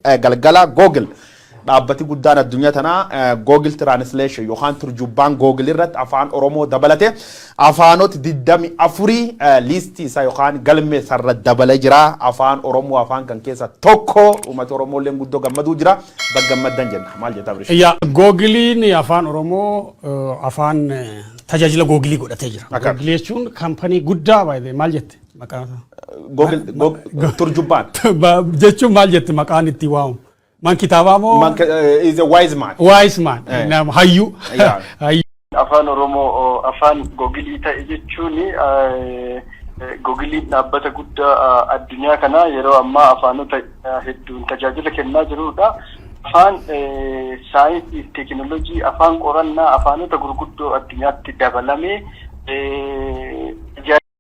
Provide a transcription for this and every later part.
Galgala Google dhaabbati guddaan addunyaa tanaa Google Translation yookaan turjubbaan Google irratti afaan Oromoo dabalate afaanoti 24 liistii isaa yookaan galmee isaa irra dabale jira. Afaan Oromoo afaan kan keessa tokko uumati Oromoo illeen guddoo gammaduu jira. Bag gammaddan jenna. Maal jetta Abrish? Yaa Googiliin afaan Oromoo afaan tajaajila Googilii godhatee jira. Akka. Googilii jechuun kampanii guddaa by the way. Maal jette? Maqaa Google Google turjubbaan. Ba- jechuun maal jette maqaan itti waamu? Man kitaabaa moo? Man ka- eh, is a wise man. Wise man. Eh. Nama hayyuu. Yeah. Hayyuu. afaan oromoo oo, afaan gogilii ta'e jechuun eh, gogiliin dhaabbata guddaa eh, addunyaa kanaa yeroo ammaa afaanota eh, hedduun tajaajila kennaa jirudha. Afaan eh, saayinsii fi teekinooloojii, afaan qorannaa, afaanota gurguddoo addunyaatti dabalamee eh,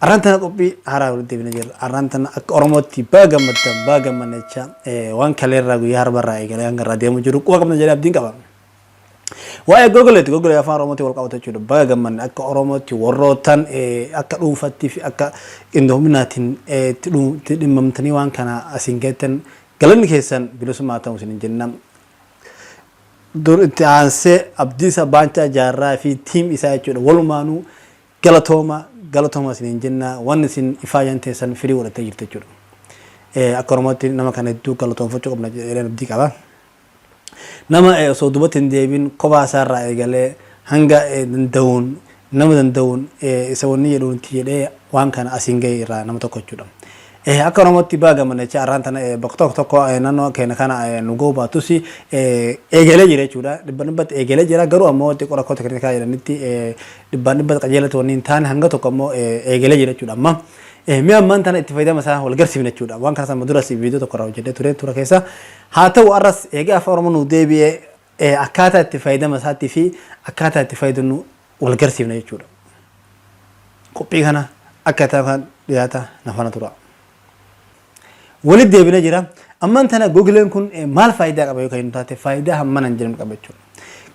Arraan tana qophii haaraa walitti deebina jirra. Arraan tana akka Oromootti baga gammaddan baga gammadna jecha waan kaleerraa guyyaa harbarraa eegalee hanga irraa deemu jiru quba qabna jedhee abdiin qaba. Waa'ee gogoleeti gogolee afaan Oromootti wal qabata jechuudha. Baga gammadna akka Oromootti warrootaan akka dhuunfaatti fi akka qindoominaatiin itti dhimmamtanii waan kana asiin geettan galanni keessan bilisummaa ta'uu isin jenna. Dur itti aansee Abdiisa Baancaa Jaarraa fi tiim isaa jechuudha. Walumaanuu Galatooma galatooma isiniin jenna waan isin ifaayan teessan firii godhattee jirtu jechuudha. Eh, Akka Oromootti nama kana hedduu galatoomfachuu qabna jedheen abdii qaba. Nama eh, osoo duubatti hin deebin kophaa isaa irraa eegalee hanga eh, danda'uun nama danda'uun eh, isa wanni jedhuun itti jedhee waan kana asiin ga'e irraa nama tokko jechuudha. Eh, Akka Oromootti baga gammanne jecha arraan tana eh, bakka tokko tokko eh, naannoo keenya kana eh, nu ga'uu baatus eh, eegalee jira jechuudha. Dhibba dhibbatti eegalee jira garuu ammoo xiqqoo rakkoo teknikaa jedhanitti eh, dhibbaan dhibbatti qajeela ta'uu wanni hin taane hanga tokko ammoo eegalee jira jechuudha amma. Mee ammaan tana itti fayyadama isaa wal garsiifna jechuudha. Waan kanas amma duras viidiyoo tokko irraa hojjedhee ture tura keessa. Haa ta'u arras eegee afaan Oromoo nuu deebi'ee akkaataa itti fayyadama isaatti fi akkaataa itti fayyadamnu wal garsiifna jechuudha. Qophii kana akka ta'an dhiyaata na faana tura. Walitti deebina jira. Ammaan tana Googleen kun maal faayidaa qaba yoo kan hin taate faayidaa hammana hin jiran qaba jechuudha.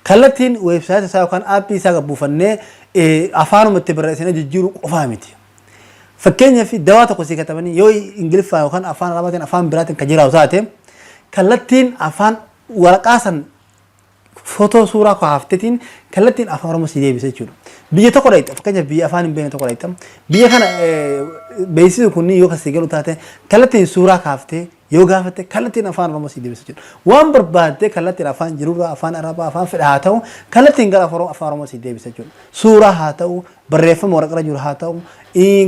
Kallattiin weebsaayita isaa yookaan aappii isaa kan buufannee afaanuma itti barreessinee jijjiiruu qofaa miti. Fakkeenyaaf dawaa tokko sii katabanii yoo Ingiliffaa yookaan afaan Arabaatiin afaan biraatiin kan jiraatu taate kallattiin afaan waraqaa san Footoo suuraa koo haaftetiin kallattiin afaan oromoo sii deebisa jechuudha. Biyya tokko dhaqxa fakkeenyaaf biyya afaan hin beekne tokko dhaqxa. Biyya kana beeksisni kunniin yoo kan sii galu taate kallattiin suuraa kaaftee yoo gaafatte kallattiin afaan oromoo sii deebisa jechuudha. Waan barbaaddee kallattiin afaan jirurraa afaan arabaa afaan fedha haa ta'u kallattiin gara afaan oromoo sii deebisa jechuudha. Suuraa haa ta'u barreeffama waraqarra jiru haa ta'u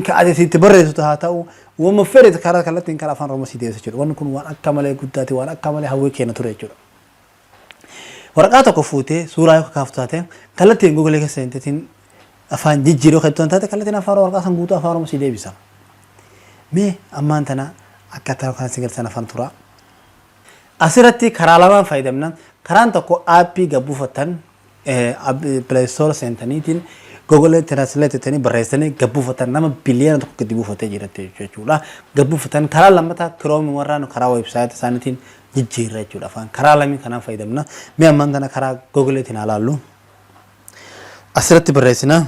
ka ati itti barreessitu haa ta'u wama fedhe karaa kallattiin karaa afaan oromoo sii deebisa jechuudha. Wanni kun waan akka malee guddaati waan akka malee hawwii keenya ture jechuudha. Waraqaa tokko fuutee suuraa yoo kakaaftu taate kallattiin Google keessa seenteetiin afaan jijjiiruu kan ittoon taate kallattiin afaan waraqaa san guutuu afaan Oromoo si deebisa. Mee ammaan tana akkaataa yookaan si galchan afaan turaa. Asirratti karaa lamaan fayyadamna. Karaan tokko aappii gad buufattan Play Store seentaniitiin Google Translate jettanii barreessanii gad buufatan nama biliyoona tokko gadi buufatee jira jechuudha. Gad buufatan karaa lammataa Chrome warraa nu karaa website isaaniitiin jijjiirra jechuudha. Afaan karaa lamii kanaan fayyadamna. Mee ammaan tana karaa Google tiin haa laallu. Asirratti barreessina.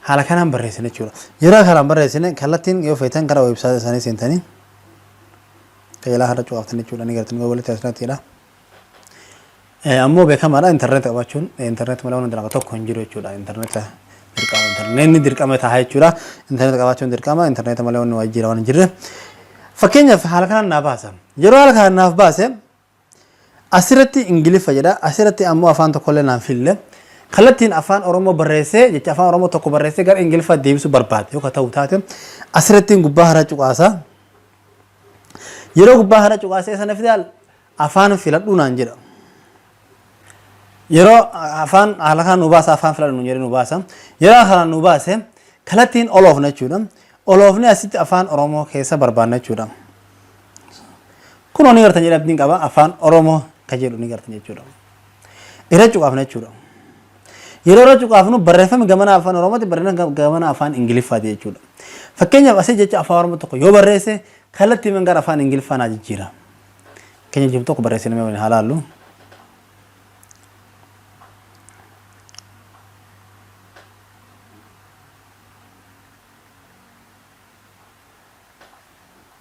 Haala kanaan barreessina jechuudha. Yeroo haala kanaan barreessine kallattiin yoo feetan gara weebsaayita isaanii seentanii qajeelaa har'a cuqaaftan jechuudha ni gartan walitti asirrattiidha. Ammoo beekamaadha intarneeta qabaachuun intarneet malee waan dalaga tokko hin jiru jechuudha intarneeta dirqama intarneetni dirqama ta'a jechuudha intarneeta qabaachuun dirqama intarneeta malee waan waajjira waan hin jirre. Fakkeenyaaf haala kanaan naa baasa. Yeroo haala kanaan naaf baase Asirratti Ingiliffa jedha, asirratti ammoo afaan tokkollee naan fille. Kallattiin afaan Oromoo barreessee, jecha afaan Oromoo tokko barreessee gara Ingiliffaatti deebisuu barbaade yoo ka ta'u taate, asirrattiin gubbaa hara cuqaasa. Yeroo gubbaa hara cuqaasee sana fidaal afaan filadhuu naan jedha. Yeroo afaan haala kanaan nu baasa afaan filadhu nu jedhee nu baasa. Yeroo kanaan nu baase kallattiin oloofna jechuudha. Oloofni asitti afaan Oromoo keessa barbaadna jechuudha. Kunoo ni gartan jedhee abdiin qaba afaan Oromoo ka jedhu ni gartan jechuudha. Irra cuqaafna jechuudha. Yeroo irra cuqaafnu barreeffami gamanaa afaan Oromooti barreeffami gamanaa afaan Ingiliffaati jechuudha. Fakkeenyaaf asii jecha afaan Oromoo tokko yoo barreesse kallattii man gara afaan Ingiliffaa naa jijjiira. Keenya jiru tokko barreessine mee waliin haa laallu.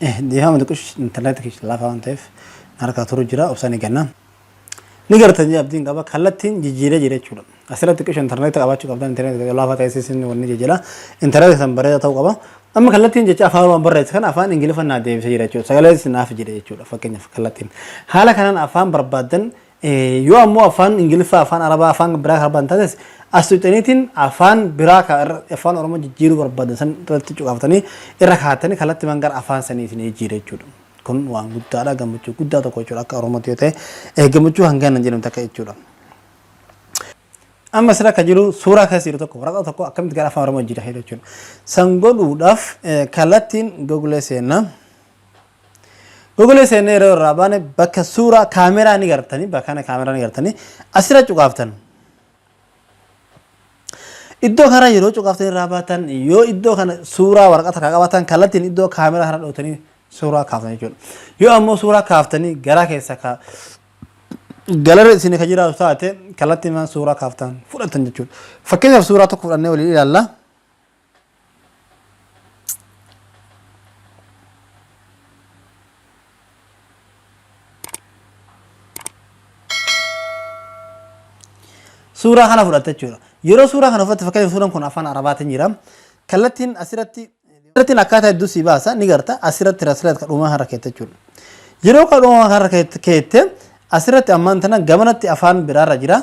Dhiifama xiqqush intarneetii keessa laafaa waan ta'eef na harkaa turu jira obsaan eegganna. Ni gartan jee abdiin qaba kallattiin jijjiiree jira jechuudha. Asirratti xiqqush intarneetii qabaachuu qabdan intarneetii keessa laafaa ta'ee isin wanni jijjiira. Intarneetii san bareedaa ta'uu qaba. Amma kallattiin jecha afaan waan barreesse kana afaan ingiliffaan naa deebisee jira jechuudha. Sagalee naaf jedhe jechuudha fakkeenyaaf kallattiin. Haala kanaan afaan barbaaddan Yoo ammoo afaan Ingiliffaa, afaan Arabaa, afaan biraa kan barbaadan taates as tuqxaniitiin afaan biraa kan irra- afaan Oromoo jijjiiruu barbaadan san irratti cuqaaftanii irra kaa'attanii kallattimaan gara afaan sanii isin jijjiira jechuudha. Kun waan guddaadha gammachuu guddaa tokko jechuudha akka Oromootti yoo ta'e eh, gammachuu hangaan hin jedhamne takka jechuudha. Amma sira akka jiru suuraa keessa jiru tokko waraqaa tokko akkamitti gara afaan Oromoo jijjiira jechuudha. San godhuudhaaf eh, kallattiin Google seenna. Google seenne yeroo irraa baane bakka suuraa kaameraa ni gartanii bakka kana kaameraa ni gartanii asirra cuqaaftan. Iddoo kana yeroo cuqaaftan irraa baatan yoo iddoo kana suuraa waraqata kan qabaatan kallattiin iddoo kaameraa kana dhootanii suuraa kaaftan jechuudha. Yoo ammoo suuraa kaaftanii garaa keessa ka galara isin ka jiraatu taate kallattiin suuraa kaaftan fudhatan jechuudha. Fakkeenyaaf suuraa tokko fudhannee waliin ilaalla. suuraa kana fudhatta jechuudha. Yeroo suuraa kana fudhatte fakkeenyaaf suuraan kun afaan arabaatiin jira. Kallattiin asirratti kallattiin akkaataa hedduu si baasa ni garta asirratti asirratti kadhumaa harra keetta jechuudha. Yeroo kadhumaa harra keette Asirratti ammaan tana gamanatti afaan biraarra jira.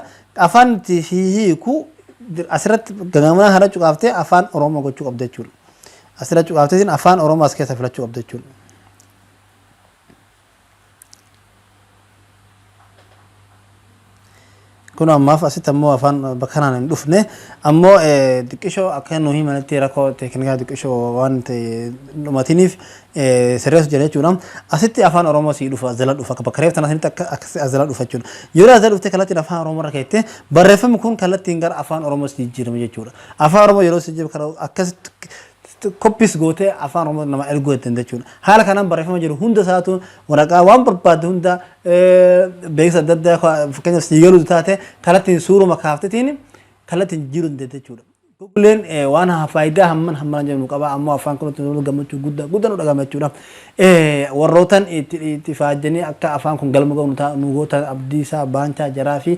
Afaan itti hiiku asirratti gamanaa kana cuqaaftee afaan Oromoo gochuu qabda jechuudha. Asirra cuqaafteetiin afaan Oromoo as keessa filachuu qabda jechuudha. Kunoo ammaaf asitti ammoo afaan bakka kanaan hin dhufne. Ammoo xiqqishoo akka nu himanitti rakkoo teeknikaa xiqqishoo waan ta'e dhumatiniif sirreessu jira jechuudha. Asitti afaan Oromoo sii dhufa as jala dhufa akka bakka reef tana sanitti akka akkasi as jala dhufa jechuudha. Yeroo as jala dhuftee kallattiin afaan Oromoo irra keettee barreeffamni kun kallattiin gara afaan Oromoo sii jijjiirama jechuudha. Afaan Oromoo yeroo sii jijjiiramu kana akkasitti copies gootee afaan Oromoo nama erguu dandeenya jechuudha. Haala kanaan barreeffama jiru hunda isaatu waraqaa waan barbaadde hunda beeksisa adda addaa fakkeenyaaf sii galuu taate kallattiin suuruma kaaftetiin kallattiin jijjiiruu dandeenya jechuudha. Googleen waan faayidaa hamman hamman jennu qaba ammoo afaan kanatti nu gammachuu guddaa guddaa nu dhagahama jechuudha. Warrootan itti faajjanii akka afaan kun galma ga'u nu goota abdiisaa baancaa jaraa fi